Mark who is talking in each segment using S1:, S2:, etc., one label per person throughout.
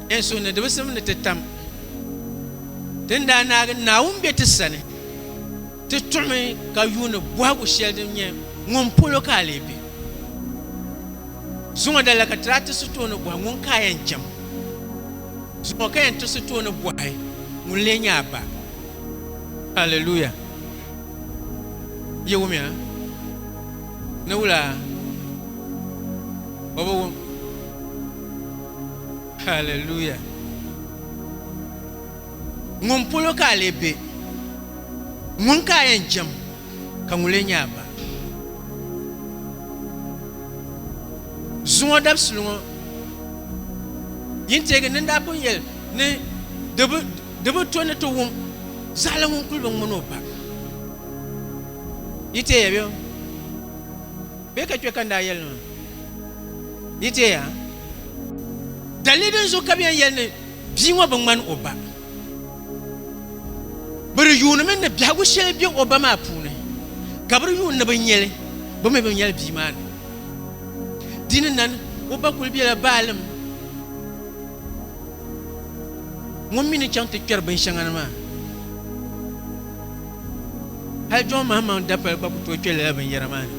S1: N suhu ni di bi simdi ti tam ti ni daa naagi Naawuni be ti sani, ti tuɣimi ka yuuni bɔhigu shɛli din nyɛ, Ŋun polo ka a lee be? Zuŋɔ dala ka ti daa ti sitooni bɔhi, Ŋun ka a yɛn jɛm? Zuŋɔ ka yɛn ti sitooni bɔhi, Ŋun lee nyɛ a ba? Hallelujah! Yi wumya ni wula? O bi wum. Hallelujah. Ŋun polo ka a lee be? Ŋun ka a yɛn jɛm, ka ŋun lee nyɛ a ba? Zuŋɔ dabisili ŋɔ yin teegi ni n daa pun yɛli ni di bi to ni ti wum zaɣili ŋun kuli bi ŋmani o ba. Yi teeya bɛ? Bɛ ka kpe ka n daa yɛli ni ma yi teeya dalili din zuɣu ka bɛ yɛn yɛli ni bia ŋɔ bi ŋmani o ba. Bɛ di yuunimi ni biɛhigu shɛli be o ba maa puuni, ka bɛ di yuuni ni bɛ nya li, bɛ mi bi nya li bia maa ni. Di ni nani o ba kul bela baalim ŋun mi ni chaŋ ti kpɛri binshɛŋa ni maa. Hal Jɔn Mahammaŋ dapali gba ku tooi kpe lala binyɛra maa ni.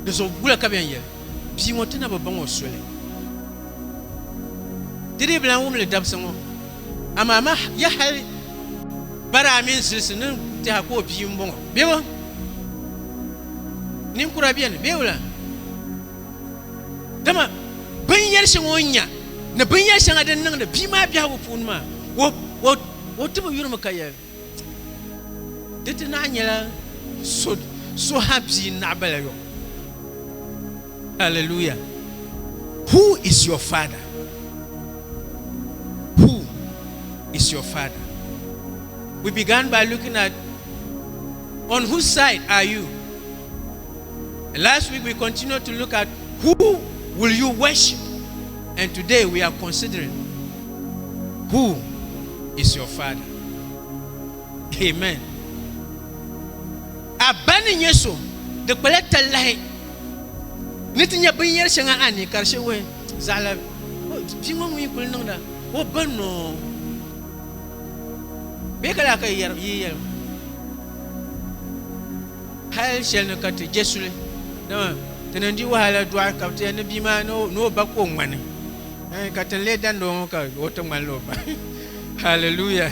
S1: Di zuɣu gula ka bɛn yɛli, Bia ŋɔ ti na bi baŋ o soli. Di dii bi lan wum li dabisi ŋɔ, amaa ma ya hal bara a mini zilisi ni tɛha ka o bia m-bɔŋɔ bee? Ninkura beni bee wula? Dama binyɛri shɛŋa o ni nya ni binyɛri shɛŋa din niŋdi bia maa biɛhigu puuni maa, o ti bi yurimi ka yɛli, Di ti naai nyɛla so ha bia n-naɣibala yom. Alleluia! Who is your father? Who is your father? We began by looking at on whose side are you? Last week we continued to look at who will you worship and today we are considering who is your father. Amen. A ba ni nyɛ so di kpala talahi ni ti nyɛ binyɛri shɛŋa a ni ka di shɛwɛ zaɣala bia ŋɔ ŋun yi kuli niŋda o ba noo bee ka laa ka yi yɛli Hal shɛli ni ka ti je suli, dama ti ni di wahala dɔɣi ka bɛ ti yɛli ni bia maa ni o ba ka o ŋmani, ɛɛn, ka ti ni lee dandi o ŋɔ ka o ti ŋmanila o ba. Hallelujah!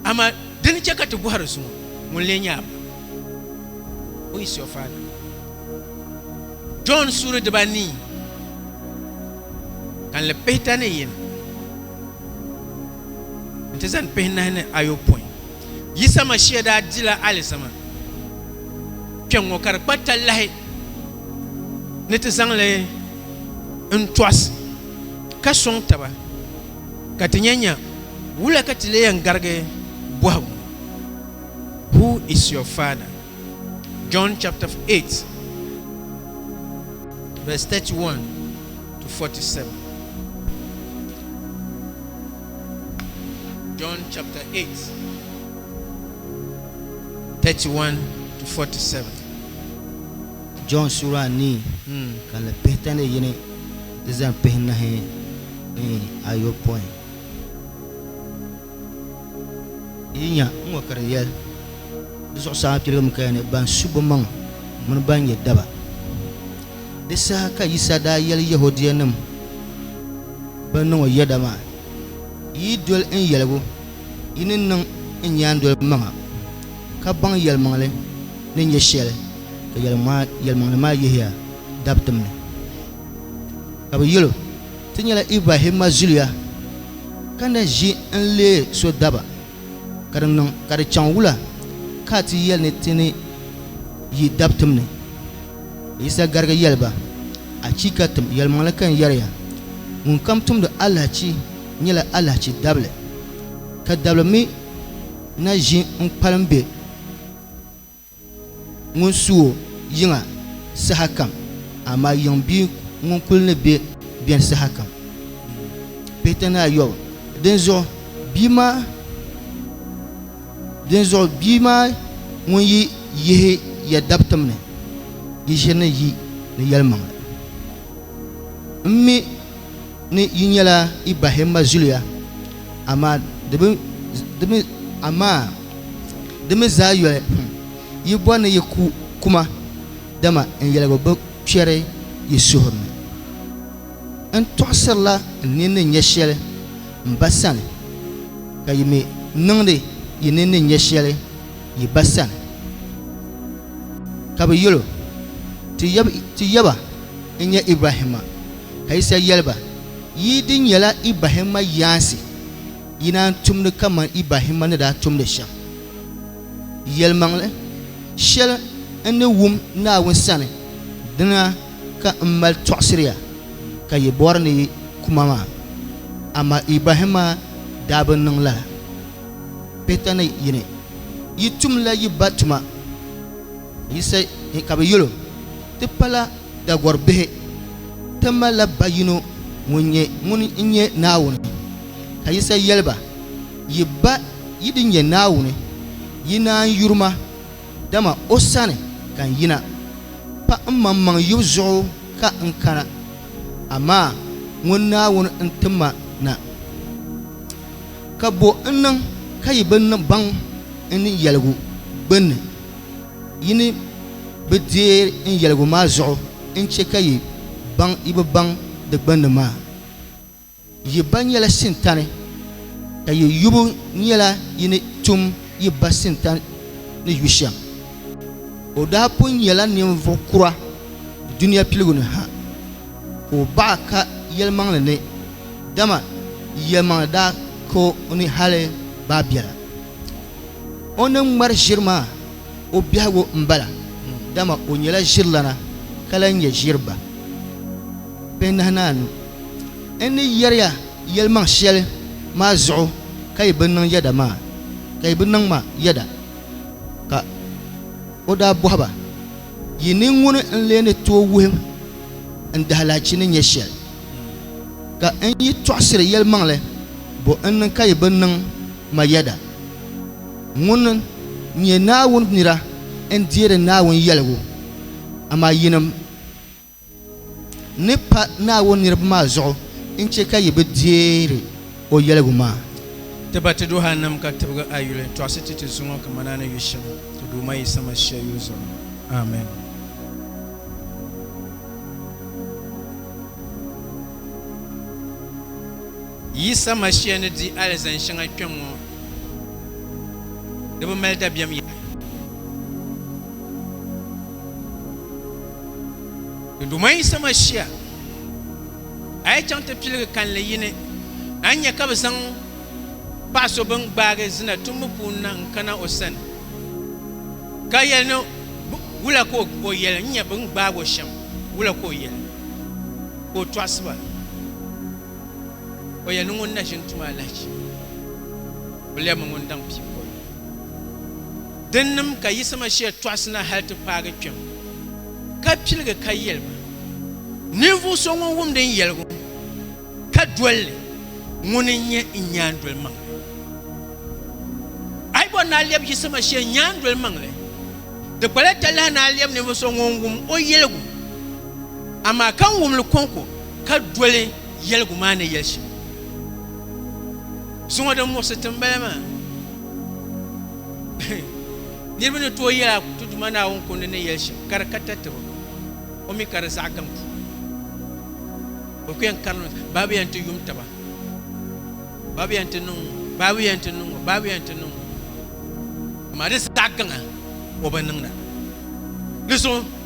S1: Amaa di ni chɛ ka ti bɔhiri so ŋɔ, Ŋuni lee nyɛ a ba? Who is your father? Jɔn suuri dibanii ka n li pihita ni yini nti zani pihinahi ni ayopɔin. Yisa Mashia daa dila alizama kpɛŋŋɔ ka di kpa talahi ni ti zaŋ li n-tɔɣisi ka sɔŋ taba ka ti nya nya wula ka ti lee yɛn garigi bɔhigu ŋɔ, Who is your father? John chapter 8 verse 31-47. John chapter 8, 31 to
S2: 47. John sura anii hmm. ka li pihi tani yini ti zani pihi nahi ni ayopɔin. Yi nya n ŋɔ ka di yɛli di zuɣusaa piligim kaya ni ban su bimaŋ mini ban nyɛ daba. Di saha ka Yisa daa yɛli Yɛhudianim bɛn niŋ o yɛda maa, Yi yi doli n yɛligu, yi ni niŋ n nyaandoliba maŋa, ka baŋ yɛlimaŋli ni nyɛ shɛli, ka yɛlimaŋli maa yihiya dabitim ni. Ka bɛ yɛl o, Ti nyɛla Ibrahimma zuliya, ka na ʒi n-leei so daba. Ka di niŋ ka di chaŋ wula ka a ti yɛli ni ti ni yi dab tim ni? Yisa garigi yɛli ba, Achiika! Tim yɛlimaŋli ka n yɛri ya, ŋunkam tumdi alahichi nyɛla alahichi dabili, ka dabili mi na ʒi n kpalim be. Ŋun su o yiŋa sahakam, amaa yiŋ bia ŋun kul ni be beni sahakam pihita ni ayɔbu. Dinzuɣu bia maa ŋun yi yihi ya dabitim ni, yi ʒiri ni yi ni yɛlimaŋli. ni yi nyɛla Ibahim ma zuliya, amaa di bi, di mi, amaa di mi zaa yoli hum, yi bɔri ni yi ku kuma, dama n yɛligu bi kpɛri yi suhuri ni. N tɔɣisirila n nini ni nya shɛli m ba sani, ka yi mi niŋdi yi nini ni nya shɛli yi ba sani. Ka bɛ yɛl o, Ti yaba n-nyɛ Ibahim ma. Ka Yisa yɛli ba, Yi di nyɛla Ibrahimma yaansi, yi na n-tumdi kaman Ibrahimma ni daa tumdi shɛm. Yɛlimaŋli shɛli n ni wum Naawuni sani, dina ka m mali tɔɣisiri ya, ka yi bɔri ni yi ku ma maa. Amaa Ibrahimma daa bi niŋ lala. Pihita ni yi ni yi tumla yi ba tuma. Ka Yisa yɛli o, Ti pala Dagɔr bihi, ti malila ba yino ŋun nyɛ ŋun n-nyɛ Naawuni. Ka Yisa yɛli ba, Yi Ba yi di nyɛ Naawuni, yi naan yuri ma, dama o sani ka n yina. Pa mmaŋmaŋ yubu zuɣu ka n kana, amaa ŋun Naawuni n ti ma na. Ka bo n-niŋ ka yi bi baŋ n ni yɛligu gbinni? Yi ni bi deei n yɛligu maa zuɣu n-chɛ ka yi baŋ yi bi baŋ di gbunni maa. Yi ba nyɛla Sintani, ka yi yubu nyɛla yi ni tum yi ba Sintani ni yu shɛm. O daa pun nyɛla ninvuɣ kura dunia piligu ni ha, ka o baɣa ka yɛlimaŋli ni, dama yɛlimaŋli daa ka o ni hali baa biɛla. O ni ŋmari ʒiri maa o biɛhigu m-bala, dama o nyɛla ʒirilana ka lahi nyɛ ʒiri ba pihinahianu. N ni yɛri ya yɛlimaŋ shɛli maa zuɣu ka yi bi niŋ yɛda maa, ka yi bi niŋ ma yɛda. Ka o daa bɔhi ba, Yi ni ŋuni n-lee ni tooi wuhim n dahilahichi ni nyɛ shɛli? Ka n yi tɔɣisiri yɛlimaŋli, bɔ n-niŋ ka yi bi niŋ Mayada, ŋun nyɛ Naawuni nira n-deeri Naawuni yɛligu, amaa yinim ni pa Naawuni niriba maa zuɣu n-chɛ ka yi bi deeri o yɛligu maa. Ti ba ti
S1: duhannima ka tibigi a yuli tɔɣisi ti ti zuŋɔ kaman a ni yu shɛm ti Duuma Yisa Masia yuli zuɣu. Amen. Yisa Masia ni di alizani shɛŋa kpɛŋŋo, di bi mali dabiɛm yaha. Di Duuma Yisa Masia, a yi chaŋ ti piligi kanli yini, a ni nya ka bi zaŋ paɣ so bini gbaagi zina tumbu puuni na n-kana o sani, ka yɛli ni, Wula ka o yɛli? N nya bɛ ni gbaag o shɛm. Wula ka o yɛli? Ka o tɔɣisi ba. O yɛli ni ŋun na ʒini tuma alahichi buliya mi ŋun daŋ pii boli o. Dinnim ka Yisa Masia tɔɣisi na hal ti paagi kpɛm, ka piligi ka yɛli ba, Ninvuɣ so ŋun wum din yɛligu ka doli li, ŋuni n-nyɛ n nyaandolimaŋli? A yi bɔri ni a lɛb Yisa Masia nyaandolimaŋli, di kpala talahi ni a lɛb ninvuɣ so ŋun wum o yɛligu, amaa ka n wum li kɔŋko. ka doli yɛligu maa ni yɛli shɛm. Zuŋɔ din muɣisi ti m-bala maa. Niriba ni tooi yɛla ti Duuma Naawuni kundi ni yɛli shɛm, ka di ka tati ba, o mi ka di zaɣ gaŋ puu. Bɛ ku yɛn karimi, baa bɛ yɛn ti yum taba, baa bɛ yɛn ti niŋ ŋɔ, baa bɛ yɛn ti niŋ ŋɔ, baa bɛ yɛn ti niŋ ŋɔ. Amaa di zaɣ gaŋa o bi niŋda. Di zuɣu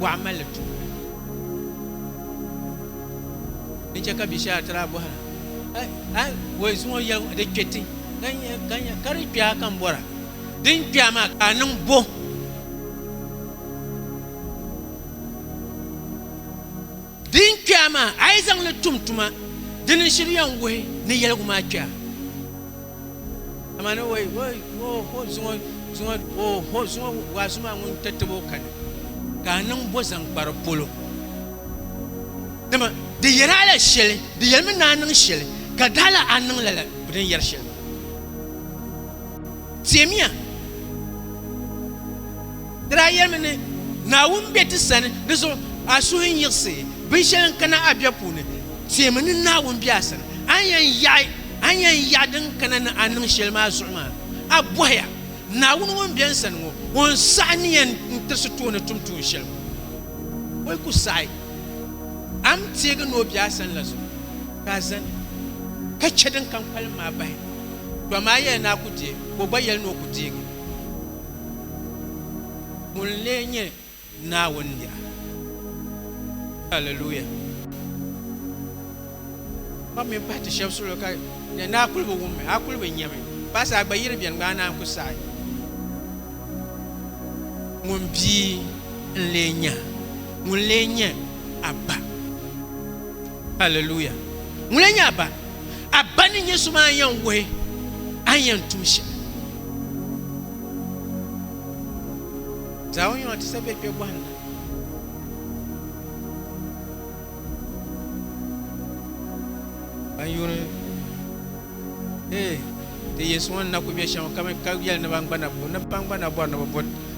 S1: bɔɣu malli tuuli. Din chɛ ka bia shɛli a ti daa bɔhira, A woi zuŋɔ yɛli ŋɔ di kpɛ ti, ka di kpɛya ka n bɔra. Din kpɛya maa ka a niŋ bo? Din kpɛya maa a yi zaŋ li tum tuma, di ni shiri yɛn wuhi ni yɛligu maa kpɛya. Amaa ni o yi o ho zuŋɔ zuŋɔ o ho zuŋɔ waa zumaa ŋun ti tib o kani ka a niŋ bo zaŋ kpari polo. Dama di yɛri a la shɛli, di yɛlimi ni a niŋ shɛli, ka di hala a niŋ lala din yɛri shɛli maa. Teemiya. Di daa yɛlimi ni, Naawuni be ti sani, di zuɣu a suhu n-yiɣisi binshɛli n-kana a biɛb puuni, teemi ni Naawuni be a sani, a ni yɛn yaɣi a ni yɛn yaɣi din kana ni a niŋ shɛli maa zuɣu maa. A bɔhiya, Naawuni ŋun be n sani ŋɔ, o ni saɣi ni yɛn n-tirisi tooni tum tuun shɛli ŋɔ? O yi ku saɣi a mi teegi ni o be a sani la zuɣu, ka a zani ka chɛ din kam kpalim maa bahi, dama a yɛli ni a ku deei, ka o gba yɛli ni o ku deegi. Ŋun n-lee nyɛ Naawuni niɣa? Alleluia! Kpam mini pahi ti shɛba suhilo ka di ni a kuli bi wummi, a kuli bi nyami, pahi saha gba yiri beni gba a naan ku saɣi. Ŋun bia n-lee nya? Ŋun n-lee nyɛ a ba? Alleluia! Ŋun lan nyɛ a ba? A ba ni nyɛ so maa yɛn wuhi a ni yɛn tum shɛli. Zaɣ o yɔŋ ti sa be kpe gɔhinda. Ban yuuni ee ti Yesu ŋɔ ni na ku be shɛm ka mi ka yɛli ni ban gba na bo ni ban gba na bɔri ni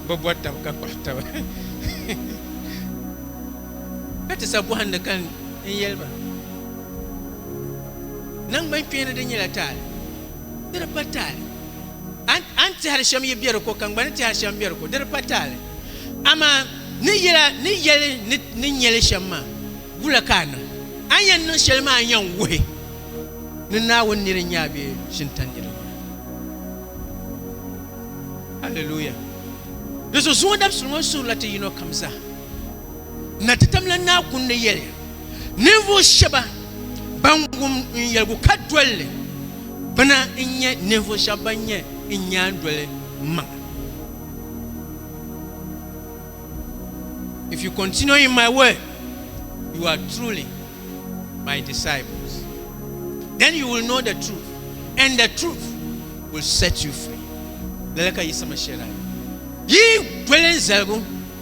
S1: bi bo taba ka kpuɣi taba. Ka ti sa bɔhindi ka n yɛli ba, Naŋgban kpeeni di nyɛla taali, di di pa taali. A ni tɛhiri shɛm yi be di ko, ka n gba ni tɛhiri shɛm m-be di ko, di di pa taali. Amaa ni yɛli ni ni nya li shɛm maa, wula ka a niŋ? A ni yɛn niŋ shɛli maa n-yɛn wuhi ni Naawuni nir n-nyɛ a bee Shintan nir n-nyɛ a. Aleluya! Di zuɣu zuŋɔ dabisili ŋɔ suhirila ti yinɔ kam zaa. Na ti tam la Naa Kuni ni yɛli, Ninvuɣu shɛba ban wum n yɛligu ka doli li, bɛ na n-nyɛ ninvuɣu shɛba ban nyɛ n nyaandoli maŋa. If you continue in my word, you are truly my disciples. Then you will know the truth, and the truth will set you free. Lala ka Yisa Mashia daa yɛli. Yi doli n zaligu.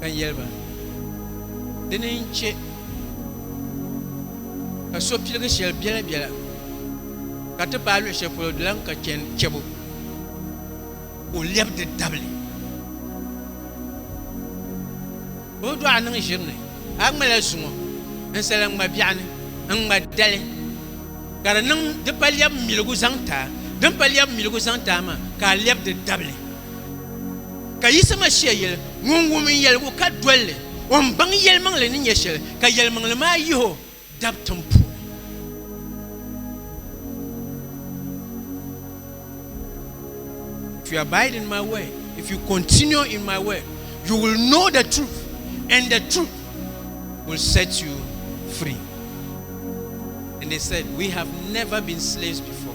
S1: ka yɛli ba, Dini n-chɛ ka so piligi shɛli biɛla biɛla ka ti paai luɣ shɛli polo di lan ka chani chɛbu ka o lɛbi di dabili? Bɛ bi dɔɣi niŋ ʒiri ni, a ŋmala zuŋɔ ninsala n-ŋma biɛɣu ni n-ŋma dali, ka di niŋ di pa lɛbu miligu zaŋ ti a, din pa lɛbu miligu zaŋ ti a maa ka a lɛbi di dabili. Ka Yisa Masia yeli, Ŋun wum n yeligu ka dol li, o ni baŋ yelimaŋli ni nyɛ sheli, ka yelimaŋli maa yihi o dabtim puuni. If you abide in my word, if you continue in my word, you will know the truth, and the truth will set you free. And they said, We have never been slaves before.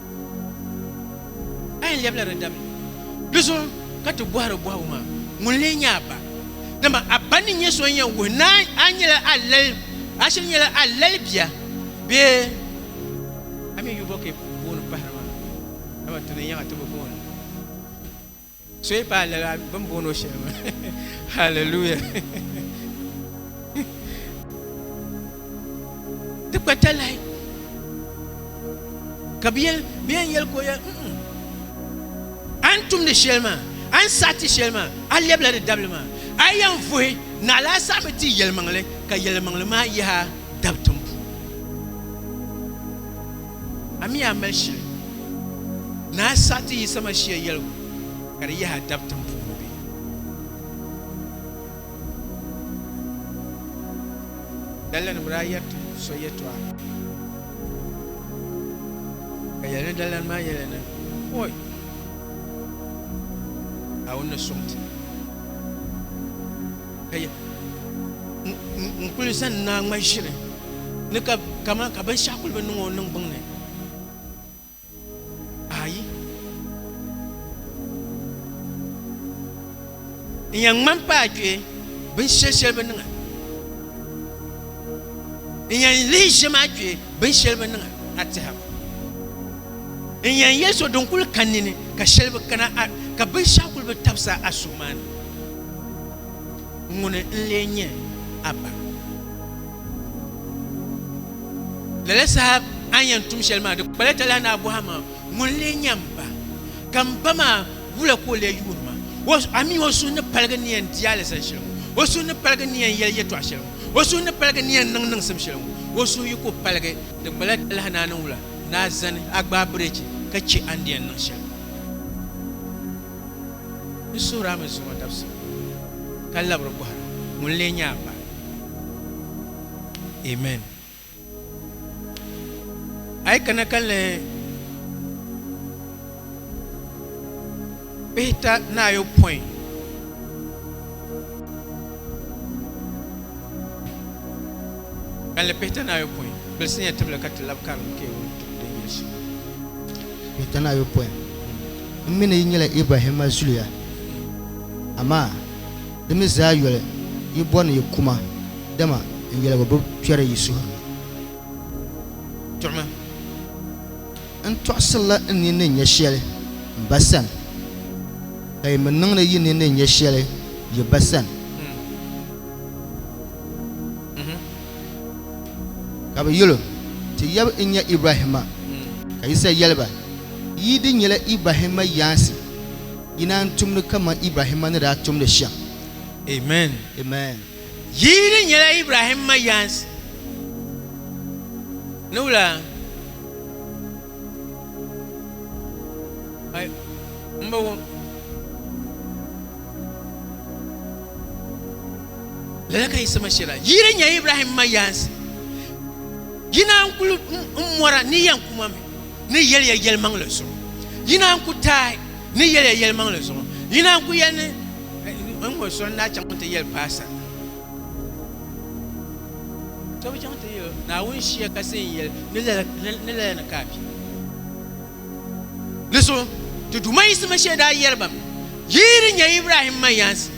S1: A yɛn lɛbila di dabili. Di zuɣu ka ti bɔhiri bɔhigu maa, Ŋuni lee n-nyɛ a ba? Dama a ba ni nyɛ so n-yɛn wuhi ni a nyɛla a lali, a shiri nyɛla a lali bia bee a mi yuvɔ ka yi booni pahiri maa, dama ti ni yɛŋ a ti bi booni. So yi paai lala bɛ ni booni o shɛli maa. Hallelujah. Di gba talahi ka bɛ yɛli bɛ yɛn yɛli ka o yɛli a ni tumdi shɛli maa a ni saɣi ti shɛli maa a lɛbila di dabili maa a yi yɛn vuhi naɣila a saɣimi ti yɛlimaŋli ka yɛlimaŋli maa yaha dabi tiŋ puuni. A mi a mali shili ni a saɣi ti Yisa Mashia yɛligu ka di yahi a dab tim puuni bee? Daliya ni bɛ daa yɛri ti so yɛtɔɣa, ka yɛli ni daliyani maa yɛliya ni, Oi! Naawuni ni sɔŋ ti. Ka ya, n kuli zani naa ŋma ʒiri ni ka kaman ka binshɛɣu kuli bi niŋ o niŋgbuŋ ni. Ayi. N yɛn ŋmani paai kpee binshɛli shɛli bi niŋa. N yɛn lihi ʒe maa kpee binshɛli bi niŋa a tɛha. N yɛn yɛli so din kuli ka nini ka shɛli bi kana a ka binshɛɣu kuli bi tabisa a suhu maa ni. Ŋuni n-lee nyɛ a ba? Lala saha a ni yɛn tum shɛli maa, di kpala talahi ni a bɔhi a maŋa, Ŋuni n-lee nyɛ m ba? Ka m ba maa wula ka o lee yuuri ma? A mi o suhu ni paligi ni yɛn di alizani shɛli ŋɔ? O suhu ni paligi ni yɛn yɛli yɛtɔɣ shɛli ŋɔ? O suhu ni paligi ni yɛn niŋ niŋsim shɛli ŋɔ? O suhu yi ku paligi, di kpala talahi ni a ni wula ni a zani, a gbaai birichi ka chɛ a ni di yɛn niŋ shɛli. Di suhiri a mi zuŋɔ dabisili, ka labiri bɔhira ŋun lee nyɛ a Ba. Amen. A yi kana ka n lan pihita ni ayopɔin. Ka n lan pihita ni ayopɔin, gbilisinya tibili ka ti lab karim K. Wuntukde Yesu.
S2: Pihita ni ayopɔin. M mi ni yi nyɛla Ibrahimma zuliya, amaa di mi zaa yoli yi bɔri ni yi ku ma, dama n yɛligu bi kpɛri yi suhuri ni.
S1: Tuɣimi
S2: n tɔɣisirila n nini ni nya shɛli m Ba sani, ka yi mi niŋdi yi nini ni nya shɛli yi ba sani. Ka bɛ yɛl o, Ti yab n-nyɛ Ibrahimma. Ka Yisa yɛli ba, Yi di nyɛla Ibrahimma yaansi, yi naan tumdi kaman Ibrahimma ni daa tumdi shɛm. Amen!
S1: Amen!
S2: Yi di
S1: nyɛla Ibrahimma yaansi, ni wula? lala ka yi sama shɛla yi yi di nya ibrahim ma yaansi yi na n kuli n mɔra ni yɛn kuma mi ni yɛliya yɛlimaŋli zuɣu yi na n ku taai ni yɛliya yɛlimaŋli zuɣu yi na n ku yɛli ni n ŋɔ sɔn na chaŋ ti yɛli paasa To bi chaŋ ti yili Naawuni shia kasi n yili ni lala ni ka a kpi. Di so, ti Duuma yiɣisima shee daa yɛli ba mi, Yi yi di nyɛ Ibrahim ma yaansi,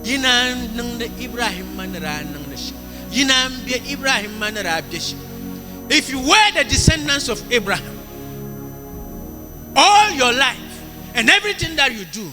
S1: yi naan niŋdi Ibrahim ma ni daa niŋdi shɛm, yi naan be Ibrahim ma ni daa be shɛm. If you were the descendants of Abraham, all your life and everything that you do,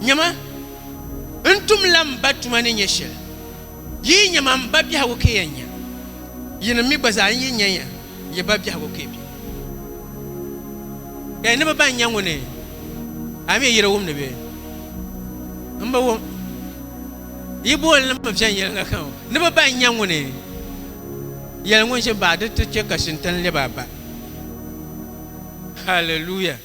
S1: Nyama, n tumla m Ba tuma ni nya shɛli. Yi yi nya ma, m Ba biɛhigu ka yɛn nya. Yinim mi gba zaa n yi nya ya, ya ba biɛhigu ka ya be. Ɛɛ, ni bɛ ba n-nya ŋuni? A mi yi di wum ni bɛ? M bi wum. Yi booni li mi viɛnyɛliŋga ka ŋɔ. Ni bɛ ba n-nya ŋuni? Yɛli ŋun ʒi baɣa di ti chɛ ka Shintan lɛb a ba. Hallelujah!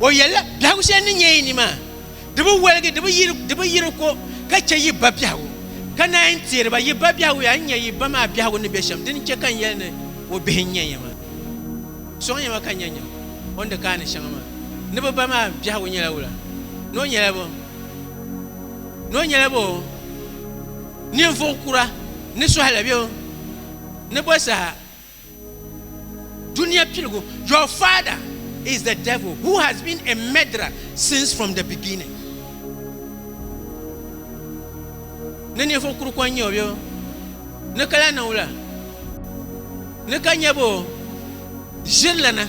S1: O yɛlila, biɛhigu shɛli ni nyɛ yi ni maa, di bi waligi, di bi yiri ko ka chɛ yi ba biɛhigu, ka naan yi teeri ba yi ba biɛhigu yaa, n nya yi ba maa biɛhigu ni be shɛm, dini chɛ ka n yɛli ni o bihi n-nyɛ ya maa. Sɔŋya ma ka n nya nyam o ni di kaani shɛŋa maa. Ni bɛ ba maa biɛhigu nyɛla wula? Ni o nyɛla bɔ? Ni o nyɛla bɔ? Ninvuɣ kura ni sɔhi la bɛ o ni bɔ saha. Dunia piligu, your father is the devil who has been a murderer since from the beginning. Ni ninvuɣ kuru ko n-nyɛ o bee ni ka lahi niŋ wula, ni ka nyɛ boo, ʒirilana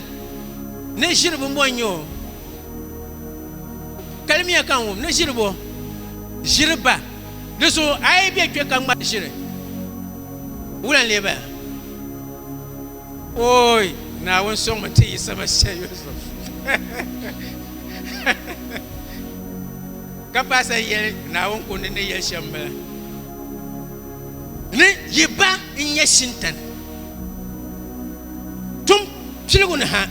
S1: ni ʒiri bimbɔ n-nyɛ o, kalimiya ka n wum ni ʒiri boo, ʒiri ba. Di so a yi bɛ kpe ka ŋmari ʒiri, wula n-lee baya? Ooi, Naawuni sɔŋmi nti yi sama shee Yusuf. Ka paasa yɛli Naawuni kundi ni yɛli shɛm bala ni yi ba n-nyɛ Shintan, tum piligu ni ha,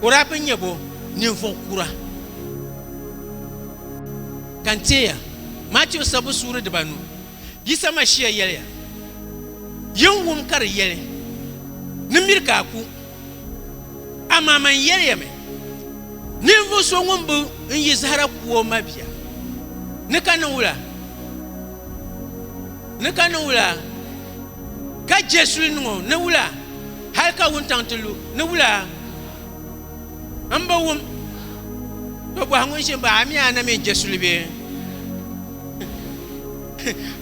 S1: o daa bi nya bo ninvuɣ kura. Ka n teeya, Matiu sabbu suuri dibanu, Yisa Mashia yɛliya, Yin wum ka di yɛli, Ni miri ka a ku. Amaa man yɛliya mi, ninvuɣ so ŋun bi n yi zahara ku o mabia, ni ka niŋ wula? Ni ka niŋ wula? Ka je suli niŋ o ni wula? Hal ka wuntaŋ ti lu ni wula? M bi wum to bɔhi ŋun ʒi m-baɣi a mi a na mi n-je suli bee?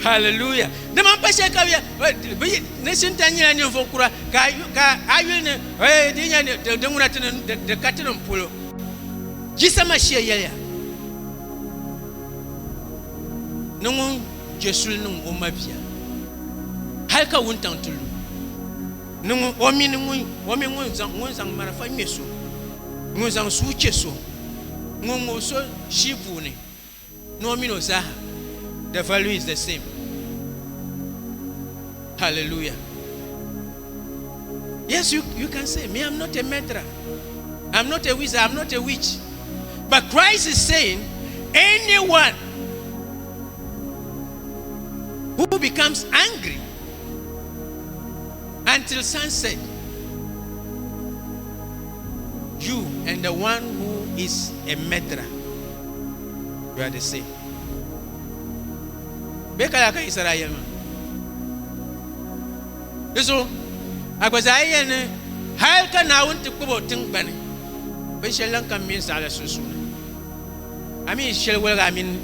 S1: Hallelujah! Dama m pa shɛli ka ni Shintan nyɛla ninvuɣ kura, ka a yuli ni eh, di nya di ŋuna ti ni di ka ti ni polo. Jisa Mashia yɛliya ni ŋun je suli niŋ o mabia hal ka wuntaŋ ti lu. ni ŋun, o mini ŋun, o mini ŋun zaŋ, ŋun zaŋ marafa ŋme so, ŋun zaŋ sua che so, ŋun ŋub so shii puuni, ni o mini o zaaha, the value is the same. Hallelujah. Yes, you, you can say, Me, I'm not a murderer. I'm not a wizard. I'm not a witch. But Christ is saying, anyone who becomes angry until sunset you and the one who is a murderer you are the same bɛ kala ka yisara ayɛl maa di so a gba zaa yɛn ni hal ka naawuni ti kpabo tingbani binshɛli lan kam mini zaɣila sunsuuni a mi shɛli waliga a mini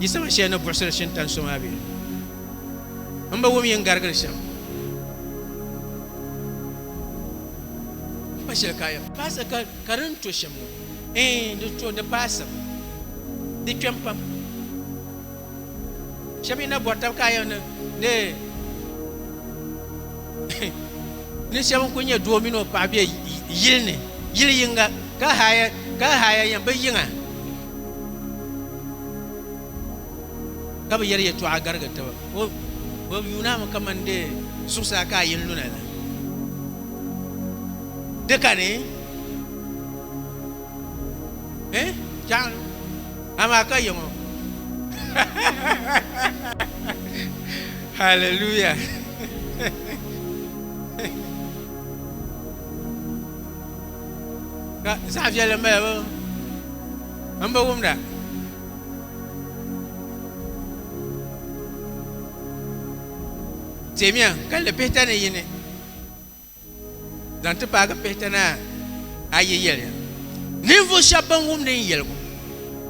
S1: yisama shɛli ni buɣisiri shintan so maa bɛ n bi wum yin garigili shɛm. N pa shɛli ka a yɛn paasi ka ka di ni to shɛm ŋɔ. Ɛɛn, di to, di paasim. Di kpɛm pam. Shɛba yi na bɔri tab ka a yɛn ni ni ni shɛba n-kul nyɛ doo mini o paɣa be yili ni, yili yiŋga, ka haaya ka haaya yɛn bi yiŋa. Ka bɛ yɛri yɛtɔɣa garigi taba, O, bɛ yuunami kaman di zuɣusaa ka a yɛn luna la. Di kani, eh, Jaɣinu, amaa ka yiŋɔ. Hallelujah! Ka zaɣ viɛlli m-bala, m bi wumda. Teemiya kalli pihita ni yini zaŋ ti paagi pihita ni ayi yɛliya ninvuɣ shɛb bɛn wumdi n yɛligu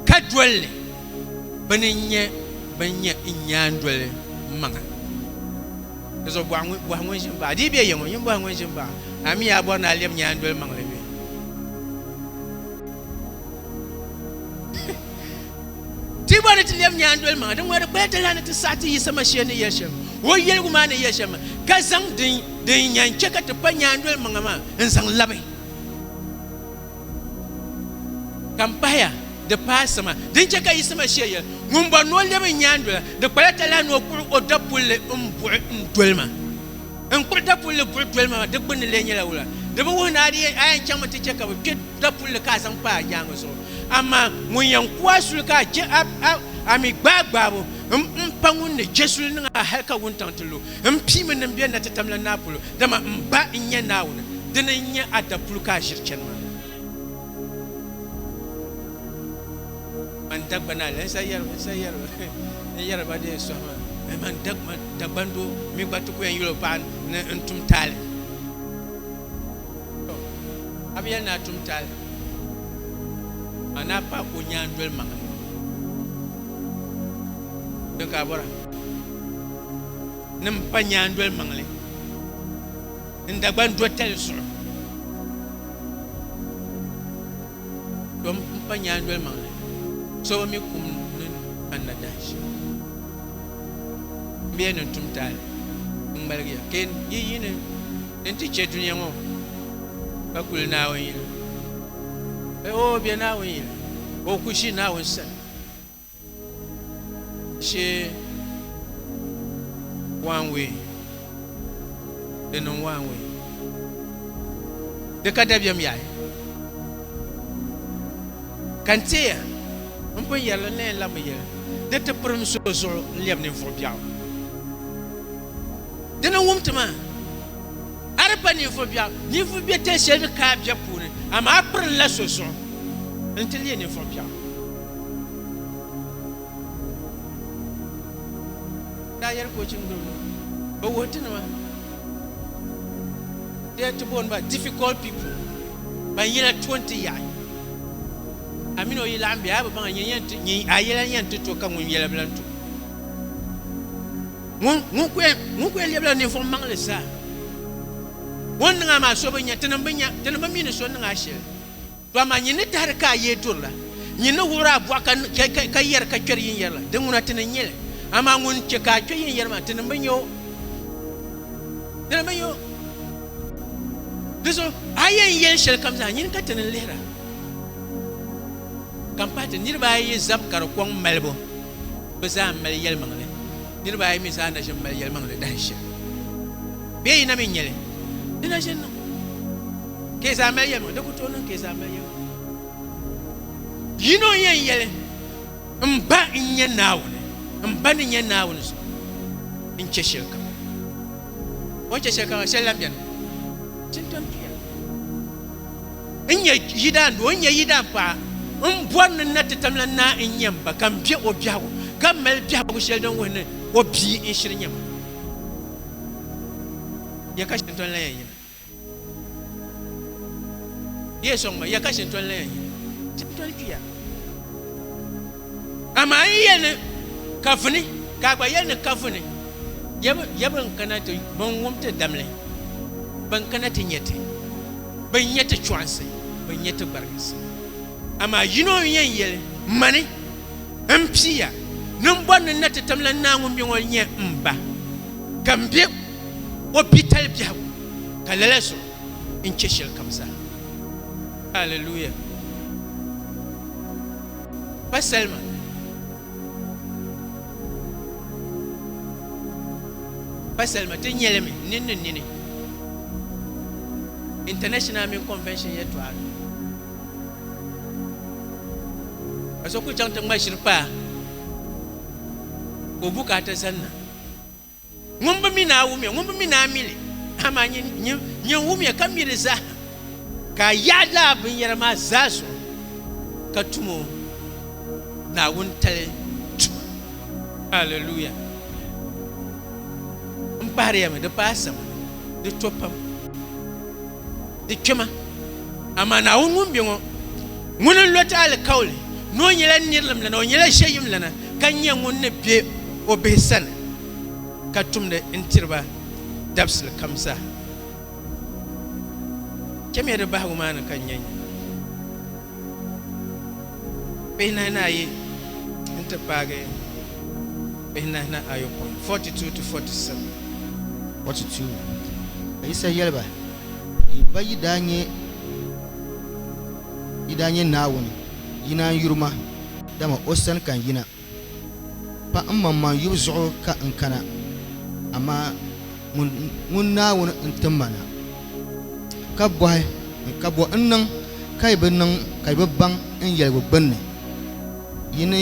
S1: ka doli li bɛ ni nyɛ bɛn nyɛ n nyaandoli maŋa dizuɣu bɔhi ŋun ʒi m baɣa di yi be ya ŋɔ yin bɔhi ŋun ʒi m baɣa a mi yaa bɔri ni a lɛbi nyaandoli maŋli bɛ Ti gba ni ti lɛbi nyaandoli maŋa din ŋɔri kpaya talahi ni ti saɣi ti Yisa Masia ni yɛli shɛm o yɛligu maa ni yɛli shɛm ka zaŋ din yɛn chɛ ka ti pa nyaandoli maŋa maa n-zaŋ labi ka m-pahaya di paai sima din chɛ ka Yisa Masia yɛli, Ŋun bɔri ni o lɛbi n nyaandola, di kpala talahi ni o kpuɣi o dapulli m-buɣi n-doli ma. N kpuɣi dapulli buɣi doli ma maa, di gbunni lee nyɛla wula? Di bi wuhi ni a di yɛn, a yɛn chaŋmi ti chɛ ka bɛ kpe dapulli ka a zaŋ kpa a nyaaŋa zuɣu. Amaa ŋun yɛn ku a suli ka a je a, a, a mi gbaai gbaabu, m, m pa ŋun ni je suli niŋ a hal ka wuntaŋ ti lu. M piimi ni m be natitam la naa polo, dama m Ba n-nyɛ Naawuni. Dini n-nyɛ a dapuli ka a ʒiri chani maa. man dagbana la n sa yɛri n sa yɛri n yɛri ba dee sɔhi ma ni man dag- man dagban doo mi gba ti ku yɛn yuli o paɣa ni n tum taali To, a bi yɛli ni a tum taali a ni a paɣa ka o nyaa n doli maŋa ni ka a bɔra ni n pa nyaa n doli maŋli n Dagban do tali zuɣu dom n pa nyaandoli maŋli so bi mi kum ni kanna dahin shɛm m bɛ ya ni n tum taali n ŋmaligi ya ka yi yi ni ni n ti chɛ dunia ŋɔ ka kuli Naawuni yili o bɛ Naawuni yili o ku ʒi Naawuni sani She one way. Di niŋ one way. Di ka dabiɛm yaai. Ka n teeya m pun yɛrili n na yɛn labimi yɛli di ti pirim so zuɣu n-lɛbi ninvuɣ biɛɣu. Di ni wum ti maa, a di pa ninvuɣ biɛɣu. Ninvuɣ biɛtali shɛli mi ka a biɛbu puuni, amaa a pirinla so zuɣu nti leei ninvuɣ biɛɣu. daa yɛli ka o chim gbubi li o wuhi ti nima dee ti booni ba difficult people ban yɛla to n-ti yaɣi a mini o yi laɣim be a bi baŋ a yɛla yɛn ti to ka ŋun yɛla bi lan to ŋun ku yɛn lɛbila ninvuɣ maŋli zaa ŋun niŋ a maa so bi nya tinim bi mi ni so niŋ a shɛli Dama nyin ni tahiri ka a yee duri la, nyin ni wuɣiri a bɔɣu ka ka, ka yɛri ka kpɛri yinyɛri la, Di ŋuna ti ni nyɛ li. Amaa ŋun chɛ ka a kpɛ yinyɛri maa, ti ni bi nya o. Ti ni bi nya o. Di zuɣu a yɛn yɛli shɛlikam zaa, nyin ka ti ni lihira. Ka m pahi ti niriba ayi yi zab ka di kɔŋ malibu, bɛ zaa m-mali yɛlimaŋli. Niriba ayi mi zaa na ʒin mali yɛlimaŋli dahin shɛli. Bee yi na mi nya li, di na ʒin niŋ. Ka yi zaa mali yɛlima, di ku tooi niŋ ka yi zaa mali yɛlima. Yino n-yɛn yɛli, M Ba n-nyɛ Naawuni, m Ba ni nyɛ Naawuni zuɣu n chɛ shɛlikam. O ni chɛ shɛlikam maa, shɛli lan beni nti ni tom tuya. N nyɛ yidaandoo, n nyɛ yidaanpaɣa, m bɔri ni n na ti tam la naa n-nyɛ m ba, ka m be o biɛhigu, ka mali biɛhigu shɛli din wuhi ni o bia n-shiri nyɛ ma. Yɛli ka shɛli n-tom lan yɛn yina. Di yɛn sɔŋ ma ya ka shintɔni la yɛn yi tipitɔni kpiya. Amaa n yɛli ni ka vuni, ka a gba yɛli ni ka vuni. Ya ban kana ti ban wum ti damli, ban kana ti nya ti, ban nya ti chɔɣinsi, ban nya ti gbariginsi. Amaa yino n yɛn yɛli, Mani, m piya, ni m bɔri ni n na ti tim la Naa ŋun be ŋɔ nya m ba, ka m be o pitali biɛhigu ka lala zuɣu n chɛ shɛli kam zaa. Aleluya! Pa salima. Pa salima ti nyɛ li mi nini ni nini International mini Convention yɛltɔɣa ni. Ka so ku chaŋ ti ŋma ʒiri paa ka o bukaata zanna. Ŋun bi mi ni a wumiya, ŋun bi mi ni a mili, amaa nyin, nyin, nyin wumiya ka mi li zahim, ka a yaɣi lala binyɛra maa zaa zuɣu ka tum o Naawuni tali tuma. Alleluia! M pahiri ya mi, di paai sama, di to pam. Di kpɛma, amaa Naawuni ŋun be ŋɔ, ŋuni n-lo ti alikauli ni o nyɛla nirilim lana, o nyɛla ʒiɛyim lana, ka nya ŋun ni be o bihi sani ka tumdi n-tiri ba dabisili kam zaa. Chamiya di bahigu maa ni ka n nya nyu. Kpihinahi ni ayi nti paagi kpihinahi ni ayopɔin,
S2: 42 to 47. 42, Ka Yisa yɛli ba, Yi ba yi daa nyɛ yi daa nyɛ Naawuni yina n-yuri ma, dama o sani ka n yina. Pa mmaŋmaŋ yubu zuɣu ka n kana, amaa ŋun Naawuni n-ti ma na. Ka bɔhi, Ka bɔ n-niŋ ka yi bi niŋ ka yi bi baŋ n yɛligu gbinni? Yi ni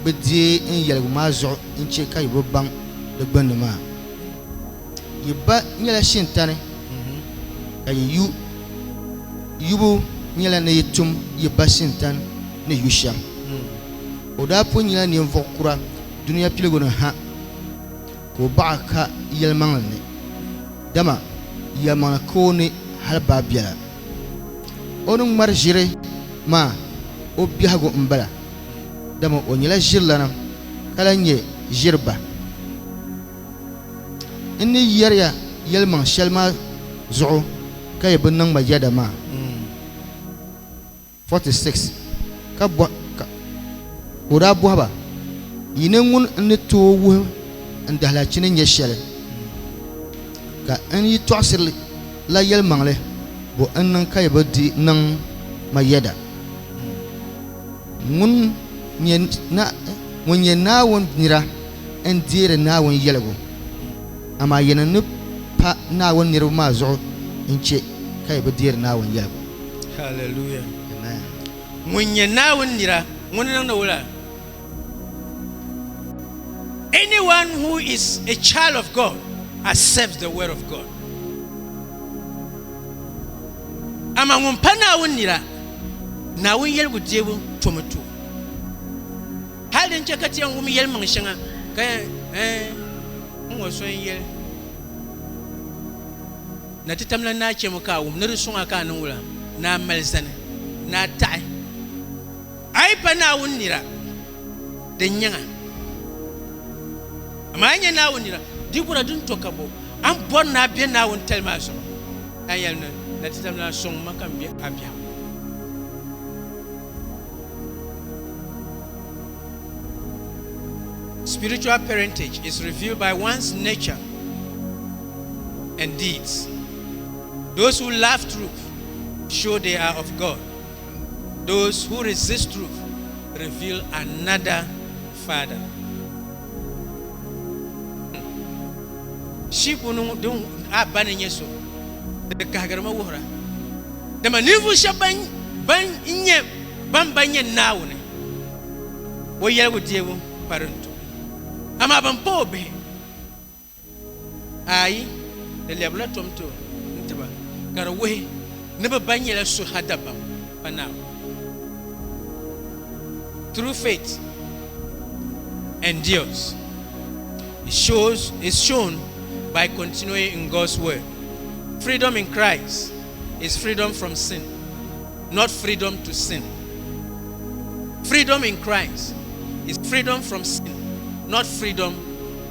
S2: bi deei n yɛligu maa zuɣu n-chɛ ka yi bi baŋ di gbinni maa? Yi ba nyɛla shintani, ka yi yu yubu nyɛla ni yi tum yi ba shintani ni yu shɛm. O daa pun nyɛla ninvuɣ kura dunia piligu ni ha ka o baɣa ka yɛlimaŋli ni, dama yɛlimaŋli ka o ni hal baai biɛla. O ni ŋmari ʒiri maa o biɛhigu m-bala, dama o nyɛla ʒirilana ka lahi nyɛ ʒiri ba. N ni yɛri ya yɛlimaŋ shɛli maa zuɣu ka yi bi niŋ ma yɛda maa. 46 ka bɔ, ka, ka o daa bɔhi ba, Yi ni ŋun n ni tooi wuhi n dahilaachini nyɛ shɛli, ka n yi tɔɣisiri li la yɛlimaŋli, bɔ n-niŋ ka yi bi di niŋ ma yɛda? Ŋun nyɛ na, ŋun nyɛ Naawuni nira n-deeri Naawuni yɛligu, amaa yi ni ni pa Naawuni niriba maa zuɣu n-chɛ ka yi bi deeri Naawuni yɛligu. Hallelujah.
S1: Amen. Ŋun nyɛ Naawuni nira, ŋuni niŋdi wula? Anyone who is a child of God accepts the word of God. Ama ŋun pa Naawuni nira, Naawuni yeligu deebu tomi to. Hali din chɛ ka ti yɛn wum yɛlimaŋ shɛŋa ka eh, n ŋɔ so n yɛli. Na ti tamla naa chɛmi ka a wum ni di suŋ a ka a niŋ wula naa mali zani ni a taɣi a yi pa Naawuni nira din nyaŋ a. Amaa a yi nya Naawuni nira di bura din to ka bo a ni bɔri ni a be Naawuni tali maa zuɣu? Ka a yɛli ni, Na ti tamla a sɔŋ ma ka m be a biɛhigu. Spiritual parentage is revealed by one's nature. and deeds. Those who love truth show they are of God, those who resist truth reveal another father. Sheep ŋun din a ba ni nyɛ so di kahigiri ma wuhira dama ninvuɣu shɛba ban ban nyɛ ban ba nyɛ Naawuni o yɛligu deebu pari n to amaa ban pa o bihi Aai, di lɛbirila tom ti o ni ti ba, ka di wuhi ni bɛ ba nyɛla suha dabam pa Naawuni. True faith endures, it shows, is shown by continuing in God's word. Freedom in Christ is freedom from sin, not freedom to sin. Freedom in Christ is freedom from sin, not freedom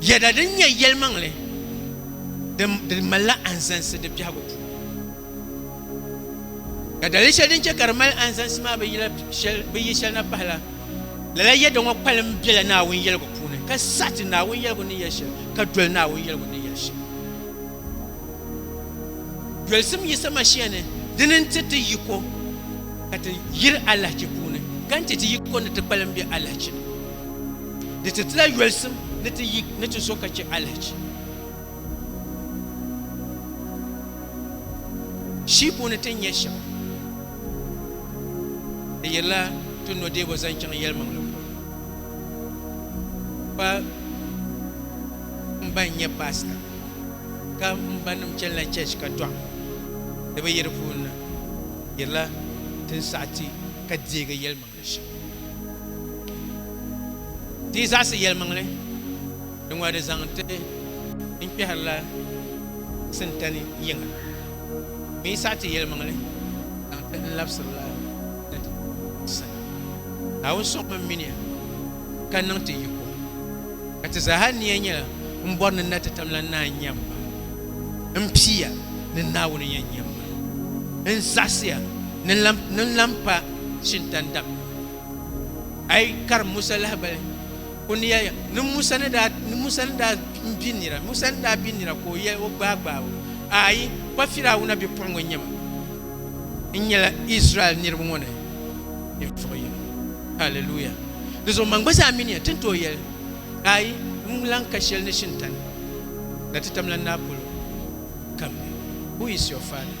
S1: Yɛda din nyɛ yɛlimaŋli di malila anzansi di biɛhigu puuni. Ka dali shɛli din chɛ ka di mali anzansi maa bi yi shɛli na pahila, lala yɛda ŋɔ kpalim bela Naawuni yɛligu puuni, ka saɣi ti Naawuni yɛligu ni yɛli shɛli, ka doli Naawuni yɛligu ni yɛli shɛli. Dolisim Yisa Mashia ni, dini n-ti ti yiko ka ti yiri alahichi puuni, ka n-ti ti yiko ni ti kpalim be alahichi ni. Di ti tila yolisim ni ti yi ni ti zo ka chɛ alihichi. Shii puuni ti ni nya shɛm, di yirila ti nɔdeebo zaŋ chaŋ yɛlimaŋli polo. Pa m ba n-nyɛ paasita ka m ba nim chanila chɛɛchi ka dɔɣi di bi yi di puuni na, di yirila ti ni saɣi ti ka deegi yɛlimaŋli. Di zaɣisi yɛlimaŋli di ŋɔ di zaŋ ti n kpɛhirila sintani yiŋa mi saɣi ti yɛlimaŋli zaŋ ti n labisirila ni ti ti sani. Naawuni sɔŋmi minia ka niŋ ti yiko, ka ti zaaha nia nyɛla m bɔri ni na ti tam la naa n-nya m ba, m pia ni Naawuni yɛn nya m ba, n zaɣisiya ni n lan pa shintan dam. A yi karim Musa lahibali, o ni yɛli ni Musa ni daa ni Musa ni daa n bi nira Musa ni daa bi nira ka o yɛli o gbaai gbaai o, Aai, pa Firawuna bipuɣiŋga n-nyɛ ma. N nyɛla Izraɛl niriba ŋɔ ni ninvuɣ yino. Haleluya! Di zuɣu man gba zaa mi ni yɛn ti ni tooi yɛli, Aai, n lan ka shɛli ni shintan na ti tamla n naa polo. Come, who is your father?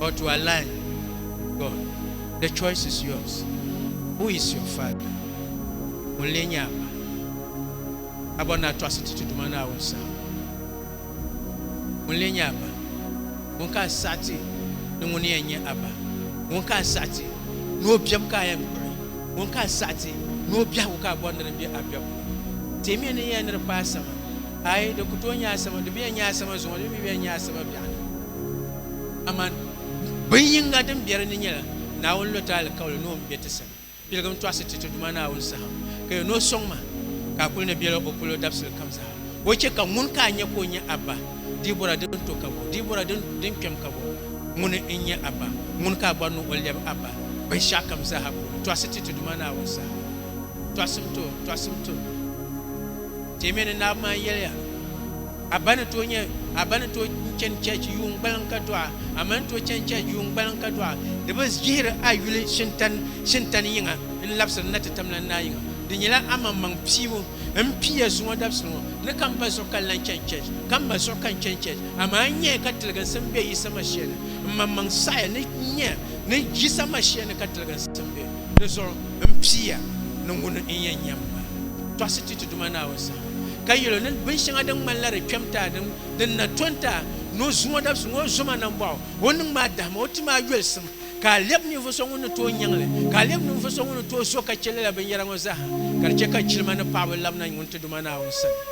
S1: or to align with God, the choice is yours. Who is your father? Ŋun lee nyɛ a ma? A bɔri ni a tɔɣisi ti Tiduma Naawuni saha. Ŋun lee nyɛ a ma? Ŋun ka a saɣi ti ni ŋuni yɛn nyɛ a ma? Ŋun ka a saɣi ti ni o biɛbu ka a yɛn kpuɣi? Ŋun ka a saɣi ti ni o biɛhigu ka a bɔri ni di be a biɛbu ni? Timiya ni yɛn ni di kpaai sama, aai, di ku tooi nyɛ a sama, di bi yɛn nyɛ a sama zuŋɔ, di mi bi yɛn nyɛ a sama biɛɣuni. Aman, bin yinga din bɛ di ni nyɛla Naawuni lɔta alikauli ni o ni bɛ ti sani piligim tɔɣisi ti ti Duuma Naawuni saham, ka yɛn ni o sɔŋ ma, ka a kul ni bela o polo dabisili kam zaa. O chɛ ka ŋun ka a nya ka o nyɛ a ba? Dibɔra din to ka bɔ? Dibɔra din kpɛm ka bɔ? Ŋuni n-nyɛ a ba? Ŋuni ka a bɔri ni o lɛbi a ba binshɛɣukam zaaha puuni tɔɣisi ti ti Duuma Naawuni saham? Tɔɣisim to! Tɔɣisim to! Teemiya ni Naawuni maa yɛliya. A ba ni tooi nyɛ, a ba ni tooi chani church yuun gbaliŋ ka dɔɣa, a ma ni tooi chani church yuun gbaliŋ ka dɔɣa. Di bi jihiri a yuli shintani shintani yiŋa n-labisiri n na ti tamla n naa yiŋa. Di nyɛla a maŋmaŋ piibu m pii ya zuŋɔ dabisili ŋɔ ni ka m ba zuɣu ka n lan chani church, ka m ma zuɣu ka n chani church. Amaa n nyɛya ka tiliginsim be Yisa Mashia ni. M maŋmaŋ saɣiya ni n nya ni Yisa Mashia ni ka tiliginsim be. Di zuɣu m pii ya ni ŋuni n yɛn nya m ma tɔɣisi ti Tiduma Naawuni saha. ka yɛl o ni binshɛŋa din ŋmanila di kpɛm taa din, din na to n-ti a, ni o zuŋɔ dabisi ŋɔ, o zoma nambɔɣu, o niŋ maa dahima, o ti maa yolisim, ka a lɛb ninvuɣ so ŋun ni tooi nyaŋ li, ka a lɛb ninvuɣ so ŋun ni tooi zo ka chɛ lala binyɛra ŋɔ zaa ha, ka di chɛ ka jilima ni paɣiba labina ŋuntiduma Naawuni sani.